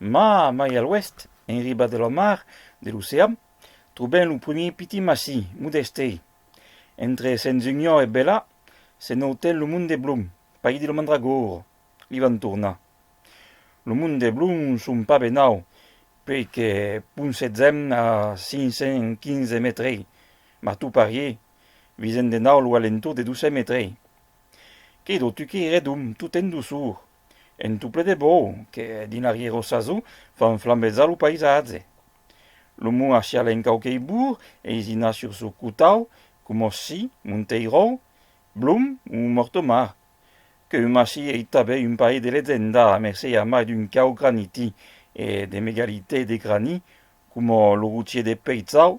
Ma, mai a l'oèst, en riba de la mar, de l'ocean, trobèm lo primier piti massí, modèste. Entre Sens-Union e Bèla, se nau ten lo Mont de Blum, país de lo mandragor. Li vam tornar. Lo Mont de Blum son pas benau, puèi que ponsètzèm a 515 mètrei, ma tu parié, visèm de nau lo alentor de 200 mètrei. Quedó tu queirèdom tot en doçor, En tout ple de bou que dins arriero saso fan flambezar lo paisatge. Lo mou a chiale en quauquei bour eisina sur sou cotau, coma si, Monteirou, Blum ou Mortomar, que un mashi ei tabè un pair de legenda a mercé a mai d'un cau graniti e de megalitè de grani coma lo rochier de Peizau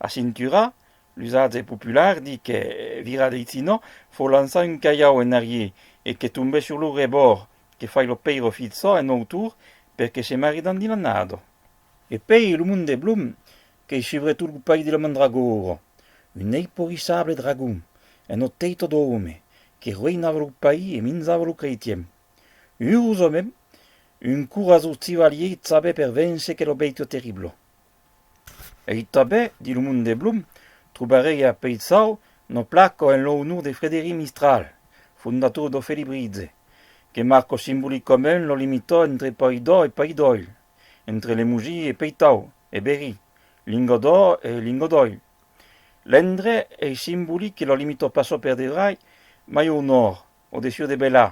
A Cintura, l'usatge popular di que virar de Itzino fò lançar un calhau en arrier e que tombè sur lo rebòrd que fai lo pèiro fitzo en autor per que se maridan dins l'annado. E pei lo monde blum qu'ei subre tot lo país di la mandragora, un eiporissable dragon en ò teito d'òme que roinava lo país e minzava lo creitien. Urosament, un corazós civalier i chabè per véncer quel obèito terrible. Ei tanben, dins lo monde de Blum, trobarèi a Peitshau no placo en lo onor de Frederic Mistral, fondator d'O Felibritge, que marco simbolicament lo limitò entre Pòi d'Ò e Pòi d'Òil, entre Lemogi e Peitau, e Berry, Lingot d'Ò e Lingot d'Òil. L'endre ei simbolic que lo limitò pas o per dedrai, mai o nòrd, o dessús de Belà,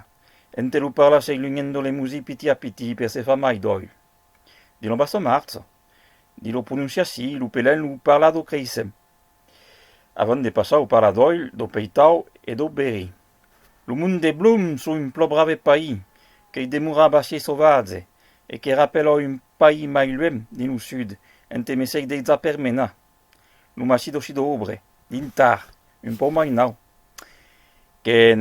ente lo parlar sei lunhèndo Lemosi piti a piti per se far mai d'òil. de lo bassa marça, de lo prononciaci, lo pelen, lo parlar do creissem, avant de passar au parlar d'òil, do peitau e do beri. Lo mond de Blum sò un plò brave país, qu'ei demorat assez sauvatge e que rapèla un país mai luènh dins lo sud, ente mesèi dei zaper mena, lo massís d'Ossidobre, dintar, un pòu mai nau, qu'en.